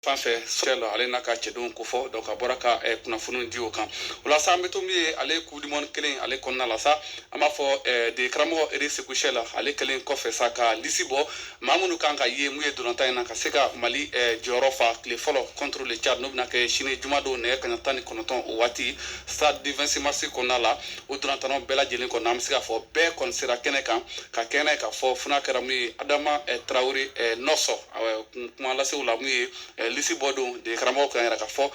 fan fɛ chelle ale n'a ka cɛdenw ko fɔ donc a bɔra ka eh, kunnafoniw di o kan o la sa an bɛ to min ye ale coupe du monde kelen ale kɔnɔna la sa an b'a fɔ eh, dege karamɔgɔ eric sékou chelle ale kɛlen kɔfɛ sa ka lisi bɔ maa minnu kan ka ye min ye ntolatan in na ka se ka mali eh, jɔyɔrɔ fa tile fɔlɔ contre le tchad n'o bɛna kɛ sini jumadon nɛgɛ kaɲa tan ni kɔnɔntɔn o waati stade du 26 mars kɔnɔna la o ntolatannaw bɛɛ lajɛlen kɔnɔ an bɛ se k'a fɔ bɛɛ kɔni sera kɛnɛ kan ka kɛnɛ k'a fɔ funa kɛra min ye adama eh, tarawele eh, noss kun kuma lasew la min ye lisi bɔ don dege karamɔgɔ kan yɛrɛ k'a fɔ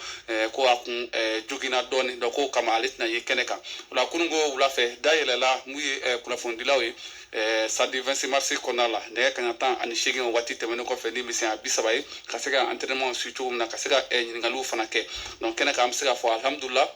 ko a kun joginna dɔɔni donc k'o kama ale tɛna ye kɛnɛ kan o la kununko wula fɛ da yɛlɛla min ye kunnafonidilaw ye stade 26 mars kɔnɔna la nɛgɛ kaɲa tan ani seegin o waati tɛmɛnen kɔfɛ ni misɛnya bi saba ye ka se ka entraînement si cogo min na ka se ka ɲininkaliw fana kɛ donc kɛnɛ kan an bɛ se k'a fɔ alihamudulila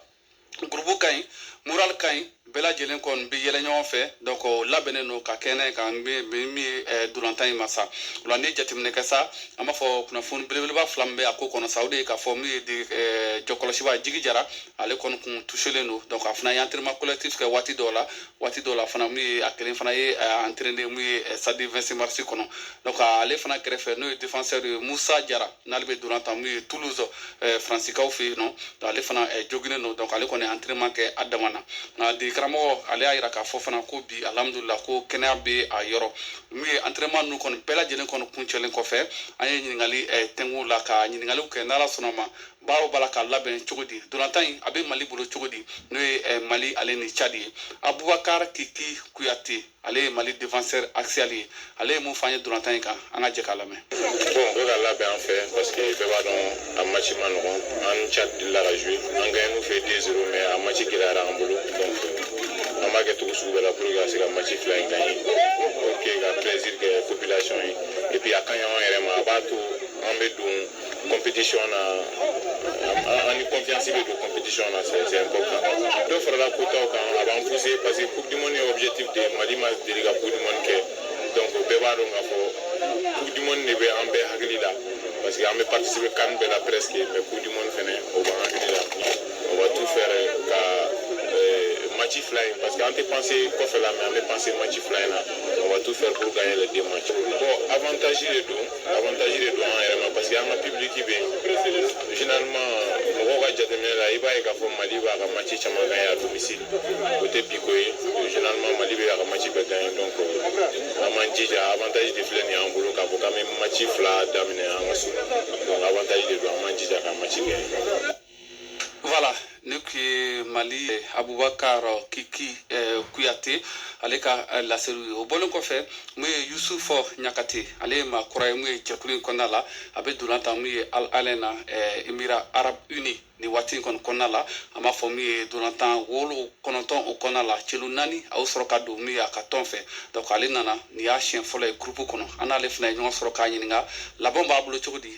groupe ka ɲi moral ka ɲi bɛɛ lajɛlen kɔni bɛ yɛlɛ ɲɔgɔn fɛ donc o labɛnnen don ka kɛnɛ ye kan bɛ min ye eh, ntolatan in ma sa o la n'i ye jateminɛ kɛ sa an b'a fɔ kunnafoni belebeleba fila min bɛ a ko kɔnɔ sa o de ye k'a fɔ min ye de eh, jɔkɔlɔsiba jigi jara ale kɔni kun touchelen don donc a fana ye entraînement collectif kɛ waati dɔw la waati dɔw la fana min ye a kelen fana ye eh, entraîné min ye eh, stade 26 mars kɔnɔ donc ale fana kɛrɛfɛ n'o ye défenseur ye Musa Jara n'ale bɛ ntola tan min ye toulouse eh, fransikaw fɛ yen nɔ ale fana eh, joginnen don donc ale kɔni ye entraînement kɛ a dama na nka dege karamɔgɔ ale y'a yira k'a fɔ fana ko bi alhamdulila ko kɛnɛya bɛ a yɔrɔ min ye entraînement ninnu kɔni bɛɛ lajɛlen kɔni kuncɛlen kɔfɛ an ye ɲininkali eh, tɛngu la ka ɲininkaliw kɛ n'ala sɔnna ma baaraw b'a la ka labɛn cogo di ntolatan in a bɛ mali bolo cogo di n'o ye mali ale ni tchad ye abubakar kiki kuyate ale ye mali défenseur axial ye ale ye mun f'an ye ntolatan in kan an ka jɛ k'a lamɛn bon o ka labɛn an fɛ parce que bɛɛ b'a dɔn a match ma nɔgɔn an ni tchad delila ka jouer an gagne n'u fɛ 2 0 mais a match gɛlɛyara an bolo donc an b'a kɛ cogo sugu bɛɛ la pour que ka se ka match fila in gagner ok ka plaisir kɛ population ye et puis a ka ɲi an yɛrɛ ma a b'a to an bɛ don compétition na an ni confiance bɛ don compétition na c'est important dɔ farala quotaw kan a b'an pousser parce que coupe du monde ye objectif de ye mali ma deli ka coupe du monde kɛ donc bɛɛ b'a dɔn k'a fɔ coupe du monde de bɛ an bɛɛ hakili la parce que an bɛ participer can bɛɛ la presque mais coupe du monde fɛnɛ o b'an hakili la on va tout faire ka match fila in parce que an tɛ penser kɔfɛ la mais an bɛ penser match fila in na on va tout faire pour gagner les deux matchs bon avantage de don avantage de don an yɛrɛ ma parce que an ka public bɛ yen généralement mɔgɔw ka jateminɛ la i b'a ye k'a fɔ mali b'a ka match caman gagner à domicile o tɛ bi ko ye généralement mali bɛ a ka match bɛɛ gagner donc an m'an jija avantage de filɛ nin y'an bolo k'a fɔ k'an bɛ match fila daminɛ an ka so donc avantage de don an m'an jija ka match gagner Voilà, nin tun ye Mali eh, Abubakar Kiki eh, Kuyate ale ka eh, laseliw ye o bɔlen kɔfɛ mun ye Yusufu Ɲakate ale ye maa kura ye mun ye jɛkulu in kɔnɔna la a bɛ dolan tan mun ye Al Alain na Émirats Arabes Unis nin waati in kɔni kɔnɔna la an b'a fɔ min ye dolantan wolo kɔnɔntɔn o kɔnɔna la celu naani a y'o sɔrɔ ka don min ye a ka tɔn fɛ donc ale nana nin y'a siɲɛ fɔlɔ ye groupe kɔnɔ an n'ale fana ye ɲɔgɔn sɔrɔ k'a ɲininka labɛnw b'a bolo cogo di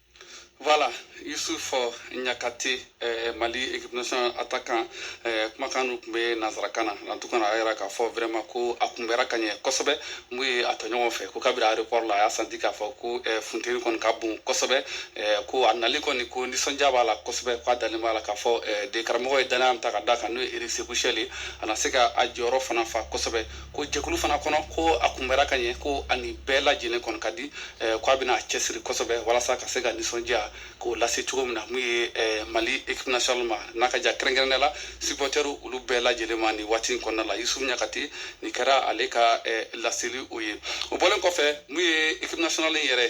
Voilà, Yusufu Ɲakate, euh, Mali équipe nationale attaquant, euh, kumakan dɔ tun bɛ nansarakan na en tout cas a y'a yira k'a fɔ vraiment ko a kunbɛra ka ɲɛ kosɛbɛ mun ye a tɔɲɔgɔn fɛ ko kabiri aéroport la a y'a senti k'a fɔ ko euh, funteni kɔni ka bon kosɛbɛ euh, ko a nali kɔni ko nisɔndiya b'a la kosɛbɛ k'a dalen b'a la k'a fɔ euh, degekaramɔgɔ ye danaya min ta ka d'a kan n'o ye Eric Sekou Chelle ye a na se ka a jɔyɔrɔ fana fa kosɛbɛ ko jɛkulu fana kɔnɔ ko a kunbɛra ka ɲɛ ko a ni bɛɛ lajɛlen kɔni ka di eh, ko a bɛna cɛsiri kosɛbɛ walasa ka se ka nisɔndiya k'o lase cogo min na mun ye eh, Mali équipe nationale ma n'a ka ja kɛrɛnkɛrɛnnenya la supɔtɛriw olu bɛɛ lajɛlen ma nin waati in kɔnɔna la Yusufu Ɲakate nin kɛra ale ka eh, laseli o ye o bɔlen kɔfɛ mun ye équipe nationale in yɛrɛ